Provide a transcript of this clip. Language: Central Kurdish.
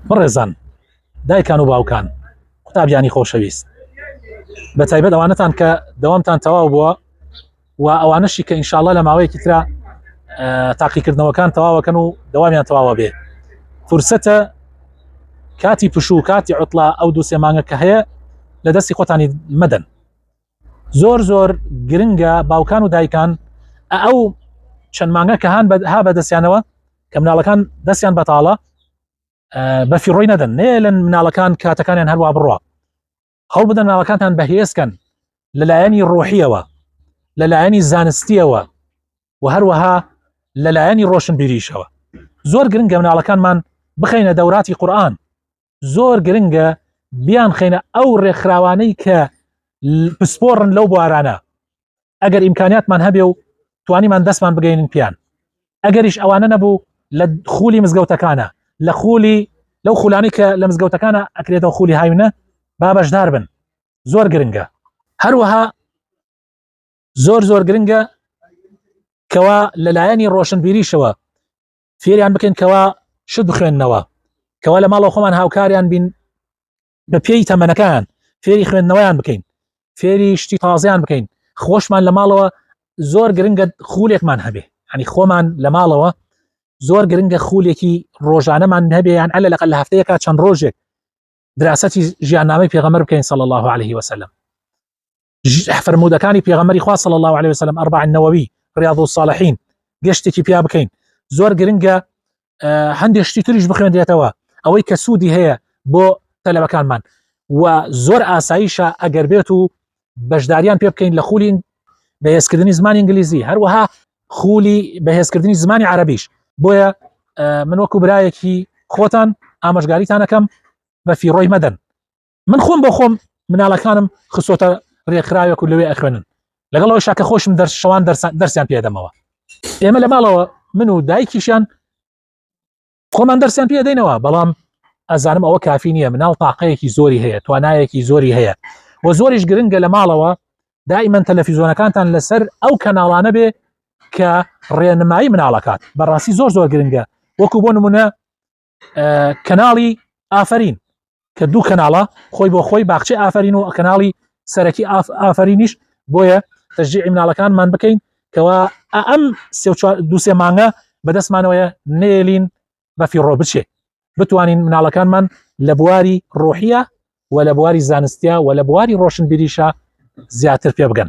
بەڕێزان دایکان و باوکان قوتابیانی خۆشەویست بە تایبەت ئەوانەتان کە دەوامتان تەواو بووە و ئەوانەشی کە ئینشاالله لە ماوەیەکی تررا تاقیکردنەوەکان تەواوەکەن و دەوامیان تەواوە بێ فرسەتە کاتی پشوو کاتی عوتلا ئەو دوو سێمانگە کە هەیە لە دەستی خۆتانی مەدەن زۆر زۆر گرنگە باوکان و دایکان ئەو چەند مانگە کە هاان ها بەدەستیانەوە کە مناڵەکان دەستیان بەتاڵە بەفی ڕۆی نەدەن نێ لە مناڵەکان کاتەکانیان هەروە بڕە هەڵ بدەن ناڵەکانتان بەهێزکەن لەلایەنی ڕۆحیەوە لەلایەنی زانستیەوە و هەروەها لەلایەنی ڕۆشنبیریشەوە زۆر گرنگە مناڵەکانمان بخینە دەوراتی قورآن زۆر گرنگە بیان خینە ئەو ڕێکخراوانەی کە پسپۆڕن لەو بوارانە ئەگەر ئیمکاناتمان هەبێ و توانیمان دەستمان بگەین پیان ئەگەریش ئەوانە نەبوو لە خولی مزگەوتەکانە لە خولی لەو خولانی کە لە مزگەوتەکانە ئەکرێتەوە خولی هاوینە با بەشدار بن زۆر گرنگە هەروەها زۆر زۆر گرنگە کەوا لەلایەنی ڕۆشنبیریشەوە فێریان بکەین کەوا شت بخوێندنەوە کەوا لە ماڵەوە خۆمان هاوکاریان بین بە پێی تەمەنەکان فێری خوێندنەوەیان بکەین فێری شتی تازیان بکەین خۆشمان لە ماڵەوە زۆر گرنگە خولێکمان هەبێ هەنی خۆمان لە ماڵەوە زۆر گرنگە خولێکی ڕۆژانەمان هەبێیان ئەلە لەقل لە هەفتەیەکە چەند ڕۆژێک دراستی ژیاننامەی پێغەمەر بکەین سەڵ الله عليه وسلم فەرموودەکانی پێغەمەری خوا صلی الله عليه وسلم ئەربع النووی ڕیاض الصالحین گەشتێکی پیا بکەین زۆر گرنگە هەندێک شتی تریش بخوێندرێتەوە ئەوەی کە سوودی هەیە بۆ تەلەبەکانمان و زۆر ئاساییشە ئەگەر بێت و بەشداریان پێ بکەین لە خولین بەهێزکردنی زمانی ئینگلیزی هەروەها خولی بەهێزکردنی زمانی عربیش بۆیە من وەکو برایەکی خۆتان ئامەژگاریتانەکەم بە فیڕۆی مەدەن من خۆم بۆ خۆم مناڵەکانم خسۆتە ڕێکخراوێک و لەوێ ئەخوێنن لەگەڵ ئەو شاکە خۆشم دەرشەوان دەرسیان پێدەمەوە ئێمە لە ماڵەوە من و دایکیشیان خۆمان دەرسیان پێ دەینەوە بەڵام ئەزانم ئەوە کافی نییە مناڵ تاقەیەکی زۆری هەیە توانایەکی زۆری هەیە و زۆریش گرنگە لە ماڵەوە دائیمەن تەلەفیزۆنەکانتان لەسەر ئەو کەناڵانە بێ کە ڕێنمایی مناڵەکات بەڕاستی زۆر زۆر گرنگە وەکو بۆ نمونە کەناڵی ئافرین کە دوو کەناڵە خۆی بۆ خۆی باخچی ئافرین و کەناڵی سەرەکی ئافرینیش بۆیە تەژی مناڵەکانمان بکەین کەوا ئەم دوسێ مانگە بەدەستمانەوەیە نێلین بە فیڕۆ بچێ بتوانین مناڵەکانمان لە بواری ڕۆحیە و لە بواری زانستیا و لە بواری ڕۆشنبیریشە زیاتر پێ بگەن